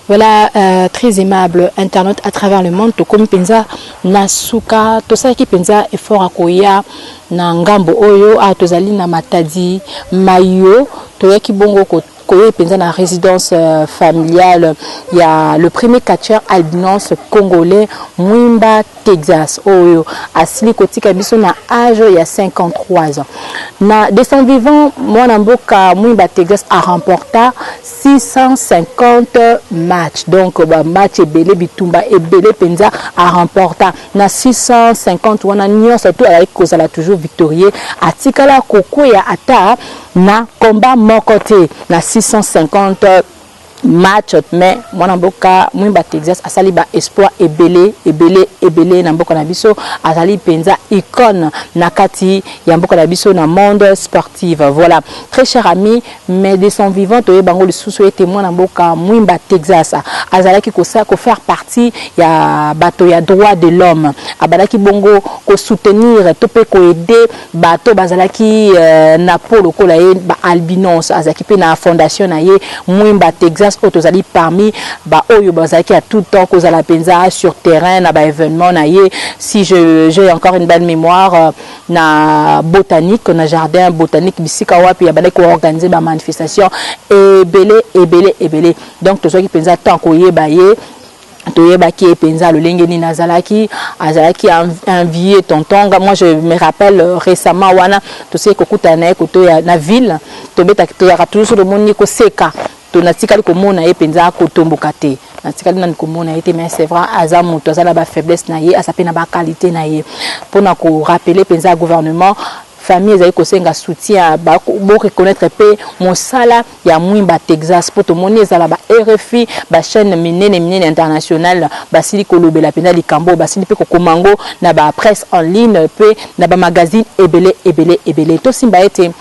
Voilà, euh, très aimable internaute à travers le monde, tokomi penza na suka, tosalaki penza effort ya koya na ngambo oyo, awa tozali na Matadi Mayo, toyaki bongo ko koye penza na résidence euh, familiale ya le premier catcheur albinos congolais Mwimba Texas oyo asili kotika biso na age ya 53 ans. Na de son vivant, mwana mboka Mwimba Texas a remporta 650 matchs. Donc ba match ebele bitumba ebele penza a remporta na 650 wana nyonso tout azalaki kozala toujours victorieux. Atikala kokwea ata na combat moko te na 650 Match mais mwana mboka Mwimba Texas asali ba exploits ebele ebele ebele na mboka na biso azali penza icone na kati ya mboka na biso na monde sportive voilà très cher ami mais de son vivant toyeba yango lisusu ete mwana mboka Mwimba Texas azalaki ko ko faire partie ya bato ya droit de l'homme abadaki bongo ko soutenir to pe ko aider Bato bazalaki na po lokola ye ba albinos azalaki pe na fondation na ye Mwimba Texas oyo tozali parmi ba oyo bazalaki a tout temps kozala penza sur terrain na ba evenements na ye si je j'ai encore une belle memoire na botanique na jardin botanique bisika wapi abandaki ko organiser ba manifestations ebele ebele ebele donc tozwaki penza temps koyeba ye toyebaki ye mpenza lolenge nini azalaki azalaki un vieux tonton nga moi je me rappelle euh, récemment wana toseki kokutana na ye koto ya na ville tobetaki tozalaka toujours so tomoni koseka to natikali komona ye mpenza kotomboka te natikali nani komona ye te mais c'est vrai aza moto aza na bafaiblesse na ye aza mpe na baqualité na ye mpo na korapele mpenza gouvernement Famille ezali kosenga soutien ya ba bo reconnaitre pe mosala ya Mwimba Texas po tomoni ezala ba rfi ba chaine minene minene international basili kolobela penza likambo oyo basili pe kokoma yango na ba presse en ligne pe na ba magazine ebele ebele ebele tosimba ete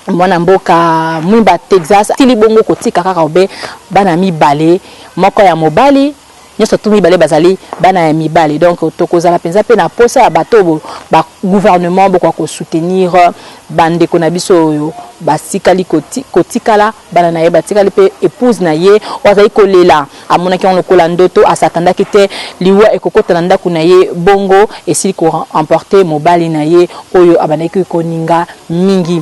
mwana mboka Mwimba Texas asili bongo kotika kaka obe bana mibale moko ya mobali Nionso tout mibale bazali bana ya mibali donc tokozala penza pe na posa ya bato oyo ba gouvernement bokoka ko soutenir ba ndeko na biso oyo batikali kotikala bana na ye batikali pe epouse na ye oyo azali kolela amonaki yango lokola ndoto a s'attendaki te liwa ekokota na ndaku na ye bongo esili ko emporter mobali na ye oyo abandaki koninga mingi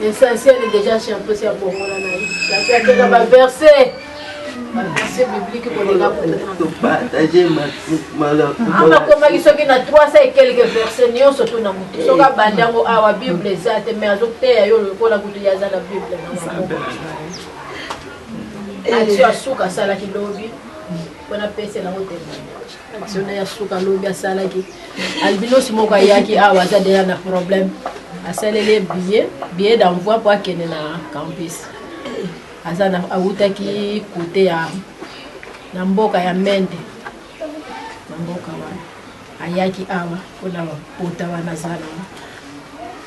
L'essentiel est déjà champion c'est bongola na ye. Champion tena ba verset. Ba verset biblique ko lega ko. To partager ma mala. Ama komaki soki na 300 et quelques versets nyonso to na mutu. Soki abandi yango awa Bible eza te mais azo teya yo lokola kutu ya za na Bible na maboko. Action asuka asalaki lobi. Mpona pese na hotel. Soda ya suka lobi asalaki albinos moko ayaki awa aza deja na problème asaleli ye billet billet d'envoi mpo akende na campus aza na awutaki kote ya na mboka ya mende na mboka wana ayaki awa mpo na bapota wana aza na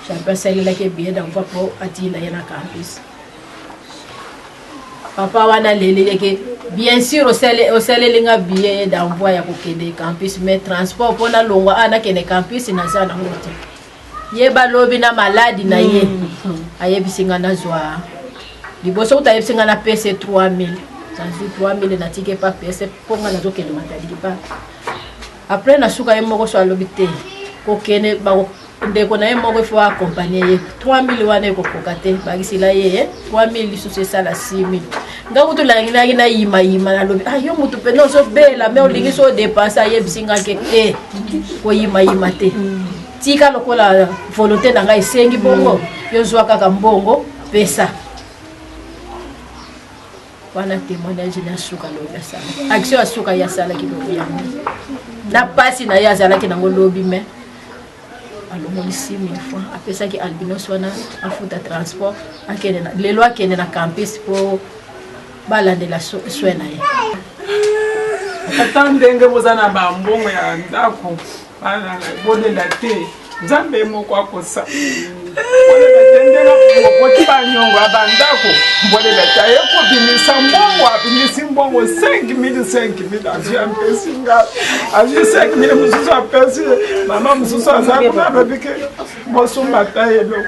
champion asalelaki ye billet d'envoi mpo atinda ye na campus Papa wana leleleke bien sûr osali osaleli nga billet d'envoi ya kokende campus mais transport mpo nalongwa awa nakende campus naza nango te ye balobi na maladi na ye hmm. ayebisi nga nazwa liboso kuta ayebisi nga na pese 3000 nazwi 3000 natiki epa pese mpo nga nazokende matadiki pa après nasuka ye moko so alobi te kokende ndeko na ye moko il faut accompagner ye 3000 wana ekokoka te bakisela ye ye 3000 lisusu esala 6000 nga kutu nalinginaki nayimayima nalobi ah yo motu mpena ozobela me olingi so odepense ayebisi nga ke te koyimayima te tika lokola volonté na ngai esengi bongo yo zwa kaka mbongo pesa wana témoignage na suka lobi asala action ya suka ye asalaki lobi yango na mpasi na ye azalaki nango lobi mai alongoli 6000 francs apesaki albinos wana afuta transport akende lelo akende na campus mpo balandela soin na ye ata ndenge boza na bambongo ya ndako Bana na ye, bolela te. Nzambe ye moko akosa. Bolela te ndenge akokoti banyongo ya bandako. Bolela te aye kobimisa mbongo, abimisi mbongo 5000 5000 azwi apesi ngai. Azwi 5000 mosusu apesi mama mosusu aza kuna alobi ke bosomba ata eloko.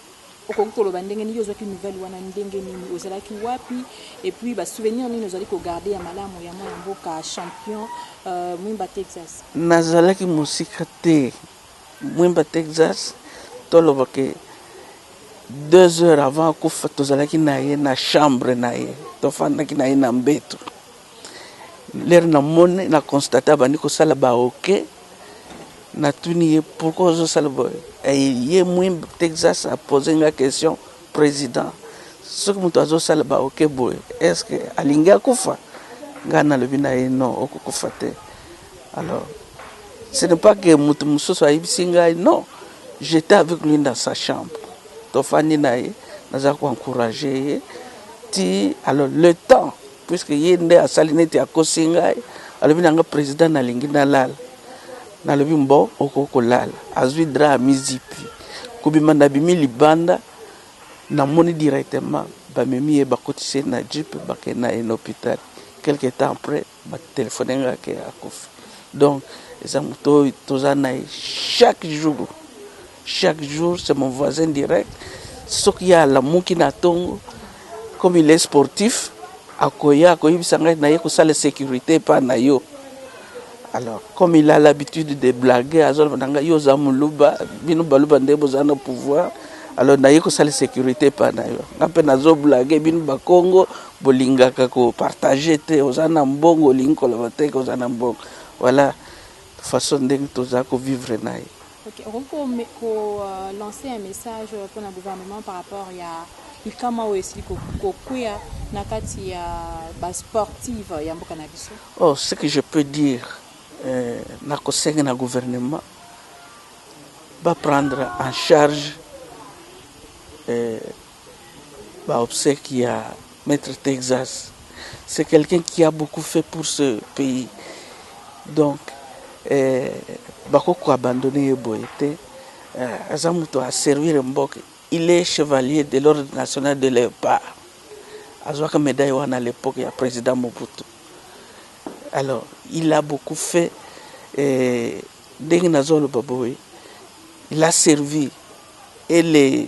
Okoki koloba ndenge nini yo ozwaki nouvelle wana ndenge nini ozalaki wapi et puis ba souvenir nini ozali ko garde ya malamu ya mwana mboka champion mwimba Texas. Nazalaki mosika te mwimba Texas toloba ke deux heures avant akufa tozalaki na ye na chambre na ye tofandaki na ye na mbetu. Lere na moni na constate abandi kosala ba oke natuni ye pourkoi ozosala boye ye mwi texas apose nga question president soki moto azosala ba oke boye estce alingi akufa ngai nalobi na ye non okokufa te alors ce n'est pas que moto mosusu ayebisi ngai non j'étais avec lui dans sa chambre tofandi na ye naza koencourage ye ti alors le temps Puisque ye nde asali neti akosi ngai, alobi na nga president nalingi nalala. Nalobi mbo okoki kolala. Azui drap amizipi. Kobima nabimi libanda, namoni directement bamemi ye bakotisi ye na jeep bakei na ye na hopital. Quelque temps après ba telephoner nga ke akufi. Donc eza moto oyo toza na ye chaque jour. Chaque jour c'est mon voisin direct soki ye alamuki na tongo comme il est sportif akoya akoyebisa ngai naye kosala securite epa na yo alors comme il a l'habitude de blaguer azoloba na ngai yo oza muluba bino baluba nde boza na pouvoir alors naye kosala securite epa na yo nga mpe nazo blaguer bino bakongo bolingaka kopartage te oza na mbongo olingi koloba te ke oza na mbongo voilà façon ndenge toza kovivre na ye Ok okoki ko ko lancer un message pona gouvernement par rapport ya likama oyo esili ko kweya na kati ya ba sportive ya mboka na biso? Oh ce que je peux dire na ko senga na gouvernement ba prendre en charge Ba obseques ya maitre Texas c'est quelqu'un qui a beaucoup fait pour ce pays donc bakoki ko abandonner ye boye te aza mutu a servir mboka il est chevalier de l'ordre national de leopard azwaka medaille wana à l'epoque ya president Mobutu alors il a beaucoup fait ndenge nazoloba boye il a servi et les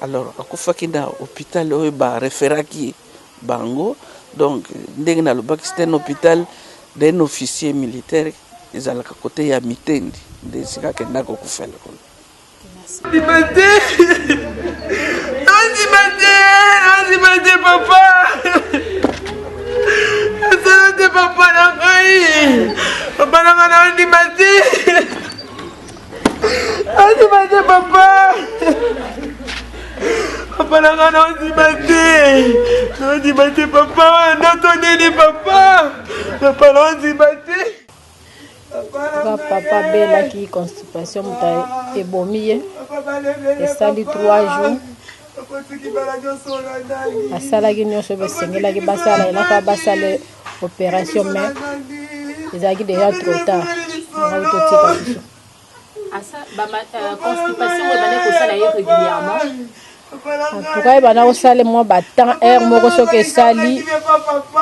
alors akufaki na hopital oyo ba referaki bango donc ndenge nalobaki c'est un hopital d'un officier militaire ezalaka kote ya mitendi nde esika akenda kokufela kuna nandima te nandima te nandima te papa asala te papa na ngai papa na ngai nandima te Andima te papa. Papa na nga naondima te. Naondima te papa. Ndoto nini papa. Papa naondima te. Papa, papa abelaki constipation moto ebomi ye esali 3 jours asalaki nyonso oyo esengelaki basala elaka basala operation mais ezalaki deja trop tard yango totika biso antuka ebanda kosala mwa batemp heure moko soki esali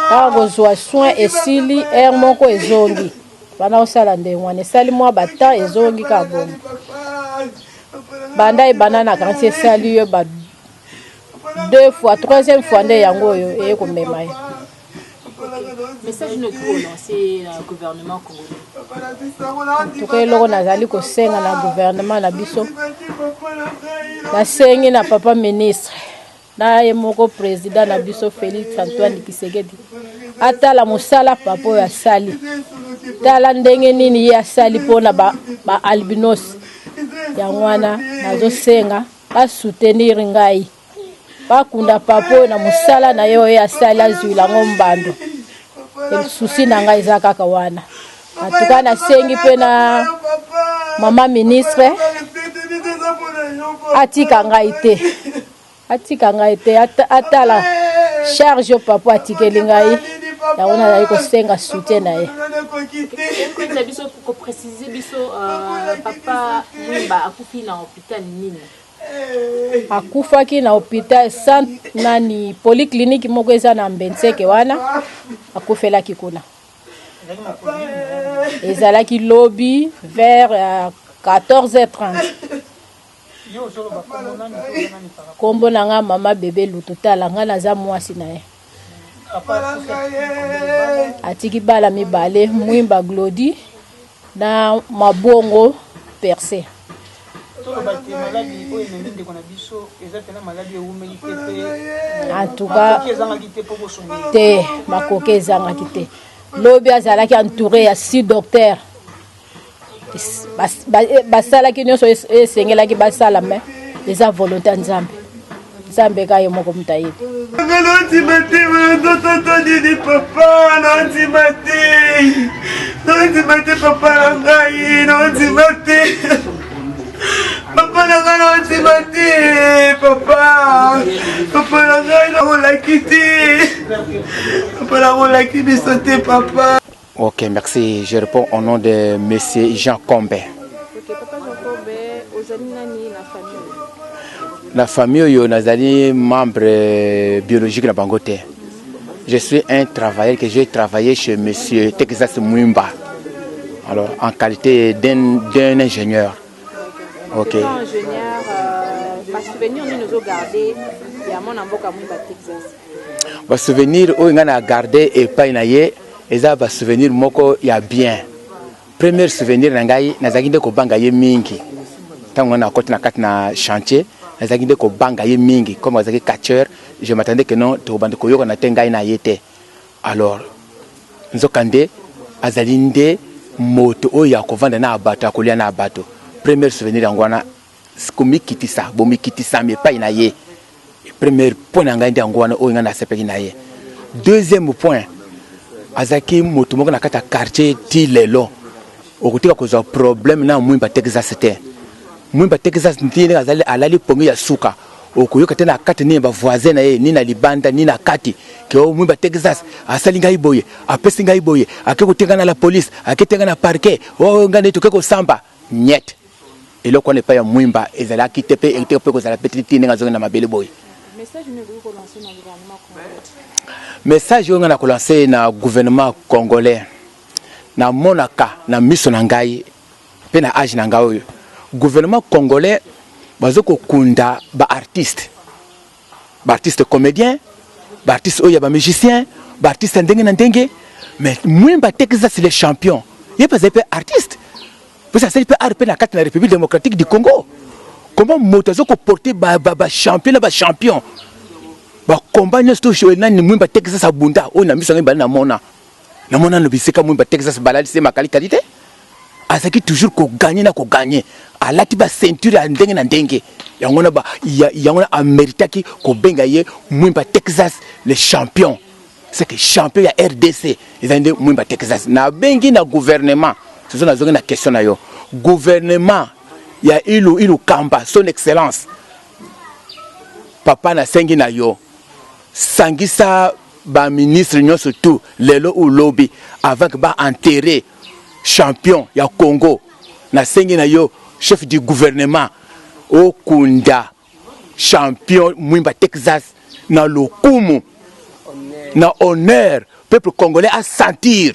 kaka kozwa soin esili heure moko ezongi banda kosala ndenge wana esali mwa batemp ezongi kaka bongo banda ebanda na kansi esali yo ba deux fois troisième fois nde yango oyo eye komema ye message no ekikolance na euh, gouvernement congolais tuka eloko nazali kosenga na gouvernement na biso nasengi na papa ministre na ye moko président na biso félix antoine kisekedi atala mosala papa oyo asali tala ndenge nini ye asali mpona baalbinos ba yango wana nazosenga basoutenir ngai Bakunda papa oyo na mosala na ye oyo asali azuila yango mbando. Susi na ngai eza kaka wana. Atuka nasengi mpe na mama ministre atika ngai te atika ngai te atala charge oyo papa atikeli ngai yango nazali kosenga soutien na ye na biso ko préciser biso euh, papa mwimba akufi na hôpital nini akufaki na hopital sant nani polyclinique moko eza na mbenseke wana akufelaki kuna ezalaki lobi vers 14h30 euh, nkombo na nga mama bebe lutu tala nga naza mwasi na ye atiki bala mibale mwimba glodi na mabongo perse antuka te makoki ezangaki te lobi azalaki entouré ya si docteur basalaki nyonso esengelaki basala me eza volonte ya nzambe nzambe ka ye moko moto ayebi nandima te ndototo nini papa nandima te nandima te papa na ngai nandima te papa na ngai nandima te papa papa na ngai nakolaki te papa nakolaki biso te papa Ok, merci. Je réponds au nom de Monsieur Jean Combe. Ok, papa Jean Combe, ozali nani na famille Na famille oyo nazali membre euh, biologique na bango te. Je suis un travailleur que j'ai travaillé chez Monsieur Texas Mwimba. Alors, en qualité d'un d'un ingénieur. Ok. Étant ingénieur, euh, ba souvenirs nini ozo garder ya mwana mboka Mwimba Texas Ba souvenir oyo nga na garde epai na ye eza ba souvenir moko ya bien. Premier souvenir na ngai nazalaki nde kobanga ye mingi ntango wana akoti na kati na chantier nazalaki nde kobanga ye mingi comme azalaki catcheur je m'attendais que non tokobanda koyokana te ngai na ye te alors nzokande azali nde moto oyo akovanda na bato akolia na bato premier souvenir yango wana komikitisa bomikitisami epai na ye premier point na ngai nde yango wana oyo ngai nasepeli na ye deuxième point azalaki moto moko na kati ya quartier ti lelo okotika kozwa problème na mwimba texas te mwimba texas nti ndenge azali alali pongi ya suka okoyoka te na kati nini bavoisin na ye ni na libanda ni na kati ke o mwimba texas asali ngai boye apesi ngai boye ake kotenga na la police ake tenga na parquet oyo oh, ngai nde toke kosamba Niet. Eloko wana epai ya Mwimba ezalaki te mpe ekitaki mpe kozala mpe te tii ndenge azongi na mabele boye. Message oyo nga na ko lancer na gouvernement congolais, na monaka na miso na ngai mpe na age na ngai oyo gouvernement congolais bazo kokunda ba artistes ba artistes comediens ba artistes oyo ya ba musiciens ba artistes ya ndenge na ndenge mais mwemba texas le champion ye mpe azali mpe artiste mposa asali mpe art mpe na kati na république démocratique du congo comment moto aza koporte bachampion na bachampion bakomba nyonso to nani mwemba texas abunda oyo na miso yango ebali na mona na mwana no bisika mumba Texas balali se makali kali te azaki toujours ko gagner na ko gagner alati ba ceinture ya ndenge na ndenge yango na ba yango na ameritaki ko benga ye mwimba Texas le champion c'est que champion ya RDC ezali nde mwimba Texas na bengi na gouvernement soso nazongi na question na yo gouvernement ya ilu ilu kamba son excellence papa nasengi na yo sangisa ba ministre nionso tout lelo ou lobi avant que ba enterrer champion ya Congo na sengi na yo chef du gouvernement okunda champion Mwimba Texas na lokumu na honneur peuple congolais a sentir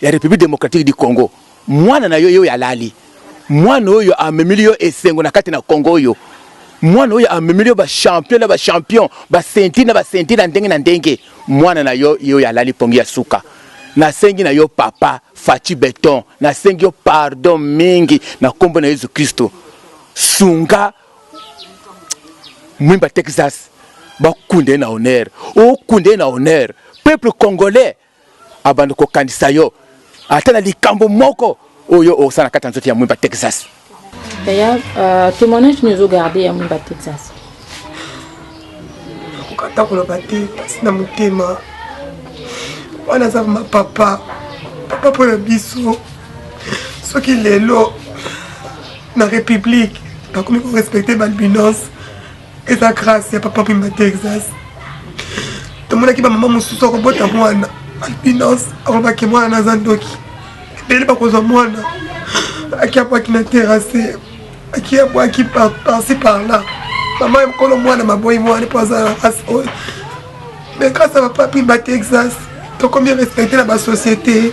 ya Republique Democratique du Congo mwana na yo ye oyo alali mwana oyo amemeli yo esengo na kati na Congo oyo mwana oyo amemeli yo ba champion na ba champion ba ceinture na ba ceinture na ndenge na ndenge mwana na yo ye oyo alali pongi ya suka nasengi na yo papa Fatshi Beton nasengi yo pardon mingi na kombo na Yesu Kristo sunga mwimba Texas bakunda ye na honneur okunda ye na honneur peuple congolais abanda kokanisa yo ata na likambo moko oyo osala na kati ya nzoto ya mwimba texas yaya uh, témoignage nini ozogarde ya mwimba texas nakokata koloba te mpasi na motema wana aza ma papa papa mpo na biso soki lelo na république bakomi korespecte balbinance eza grâce ya papa pemba texas tomonaki bamama mosusu akobota mwana albinance akolobaki mwana naza ndoki ebele bakozwa mwana akiabwaki na terase akiabwaki parci parla mama ya mokolo mwana maboyi mwana mpo aza na race oyo mais grâce ya papa pemba texas tokomi respecte na basociété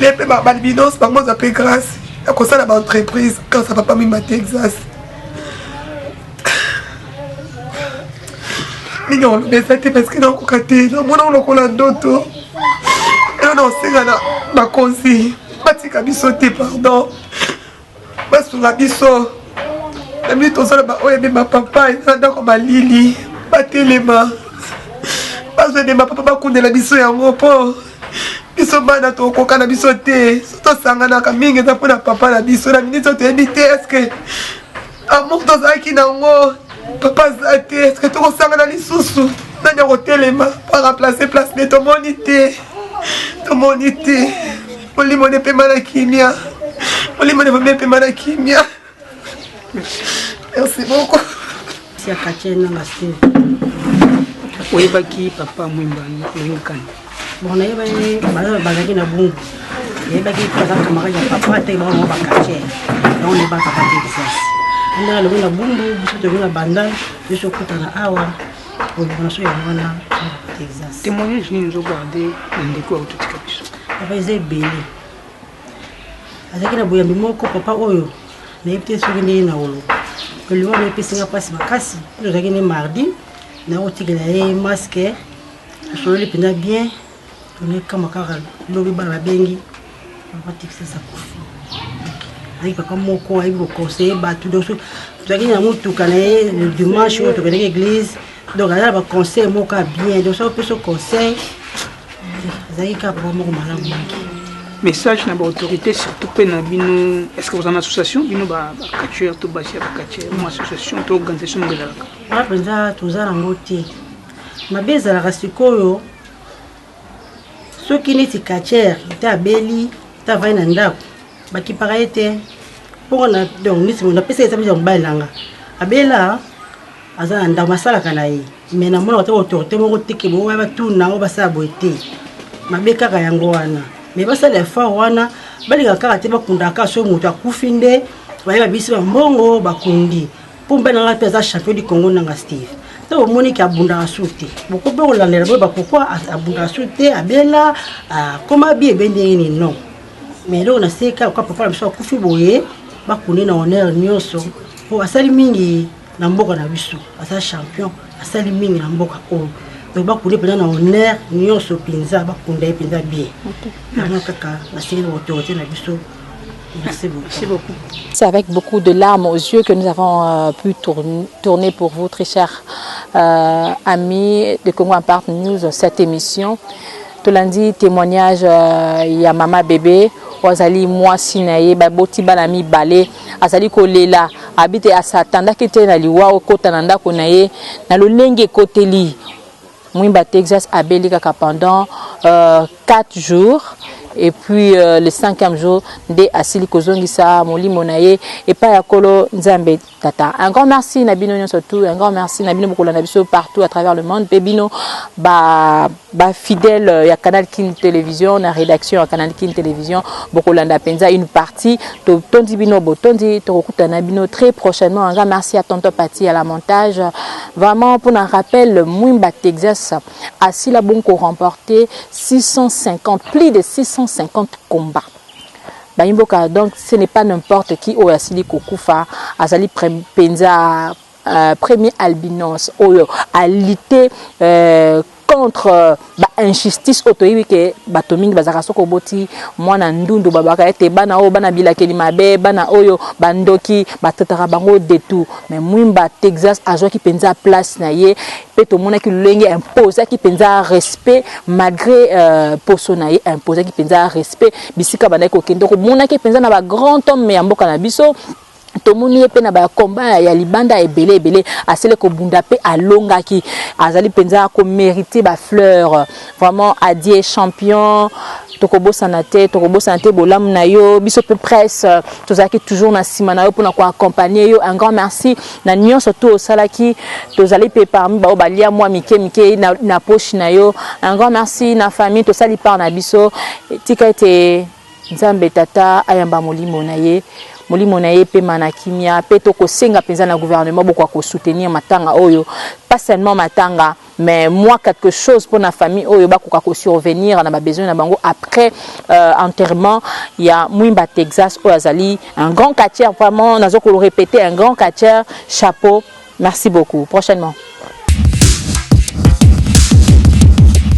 le mpe balbinance bango ozwa mpe grâce ya kosala baentreprise grâce ya papa mimba texas mingi olobesa te parceke nakoka te namona olokola ndoto elo na osenga na bakonzi batika biso te pardon basunga biso na mini tozala baoyo ebemba papa eza na ndako malili batelema bazwa ebemba papa bakundela biso yango mpo biso bana tokoka na biso te so tosanganaka mingi eza mpo na papa na biso na miniti oyo toyebi te eske amour tozalaki na yango papa aza te eske tokosangana lisusu nani akotelema mpo araplace place nde tomoni te tomoni te molimo nde mpema na kimia molimo nde mpema na kimia Merci beaucoup. Merci à Katia na Mastin. Oyebaki papa Mwemba Lengkani. Bon, nayebaki bazalaki na bungu. Nayebaki aza camarade ya papa ata ebaka mwa bakatie. Yango nayebaka papa te Texas. Ndaka lobi na bungu, biso tobi na banda, biso okutana awa. Oyebana so yango wana Texas. Témoignage nini ozogarde na ndeko ya ototika biso? Papa eza ebele. azalaki na boyambi moko papa oyo nayebi te soki ndenge na wolo elimo na epesi nga mpasi makasi oyo azalaki nde mardi nakotikela ye maske asololi mpenza bien tonekama kaka lobi bana babengi papa tikisasa kufi azalaki papa moko ayebi kokonseye bato donc tozalaki na motuka na ye le dimanche oyo tokendeki eglise donc aza na baconseil moko ya bien donc soki opesa conseil azalaki kaka papa moko malamu mingi message na baautorité surtout mpe na bino est ce que boza na association bino bacatcheur to basi ya bacatcheur mo association to organisation moko ezalaka aa mpenza toza nango te mabe ezalaka sikoyo soki neti catcheur te abeli te avai na ndako bakipaka ye te mpo na donc neti napesa ye eza mobali nanga abela aza na ndako masalaka na ye me namonaka te autorité moko te ke boya batuna yango basala boye te mabe kaka yango wana me basala effort wana balingaka kaka te bakundaka kaka soki moto akufi nde baye babisi bambongo bakundi mpo mobali nanga mpe aza champion du congo nanga steve ntango omoni ke abundaka su te bokoki mpe kolandela boyeba pourkui abundaka su te abela akoma bi ebe ndenge nini non mais eloko na seka oka papa na biso akufi boye bakundi na honneur nyonso mpo asali mingi na mboka na biso aza champion asali mingi na mboka oyo donc bakunda mpenza na honneur nyonso mpenza bakunda ye mpenza bien yango kaka nasili na autorité na biso Merci beaucoup. Merci beaucoup. C'est avec beaucoup de larmes aux yeux que nous avons euh, pu tourner, tourner, pour vous, très chers euh, amis de Congo Impart News, cette émission. Tout lundi, témoignage euh, Yamama Bébé, Ozali, moi, Sinaye, Baboti, Balami, Balé. Azali kolela, abi te asa atandaki te na liwa okota na ndako na ye na lolenge ekoteli Mwimba Texas abeli kaka pendant euh, 4 jours et puis euh, le cinquième jour nde asili kozongisa molimo na ye epai ya kolo nzambe tata un grand merci na bino nyonso tout un grand merci na bino bokolanda biso partout à travers le monde mpe bino ba Ba fidèles ya Canal Kin Television na redaction ya Canal Kin Television bokolanda penza une partie to tondi bino botondi tokokutana bino très prochainement nga merci à tonton Pati à la montage vraiment pour un rappel Mwimba Texas asila bon ko remporter 650 plus de 650 combats bayimboka donc ce n'est pas n'importe qui oyo asili kokufa azali penza Euh, premier albinos oyo a lutter euh, contre euh, ba injustice oyo toyebi ke bato mingi bazalaka soki oboti mwana ndundu babaka ete bana oyo bana bilakeli mabe bana oyo bandoki batataka bango detout mais mwimba texas azwaki mpenza place na ye mpe tomonaki lolenge imposaki mpenza respect malgré euh, poso na ye imposaki mpenza respect bisika bandaki kokende komonaki mpenza na bagrand homme ya mboka na biso tomoni ye mpe na bakomba ya libanda ebele ebele asili kobunda mpe alongaki azali mpenza komerite bafleur vraiment adie champion tokobosana te tokobosana te bolamu na yo biso mpe presse tozalaki toujours na nsima na yo mpona koaccompagne yo un grand merci na nyonso tu osalaki tozali mpe parmi baoyo balia mwa mike mike na, na poche na yo un grand merci na famille tosali part na biso tika ete Nzambe Tata ayamba molimo na ye, molimo na ye epema na kimia, pe to kosenga penza na gouvernement bokoka ko soutenir matanga oyo, pas seulement matanga mais mua quelque chose pona famille oyo bakoka ko survenir na ba besoins na bango après enterrement ya Mwimba Texas oyo azali un grand catcheur vraiment nazo ko repeter un grand catcheur chapeau merci beaucoup prochainement.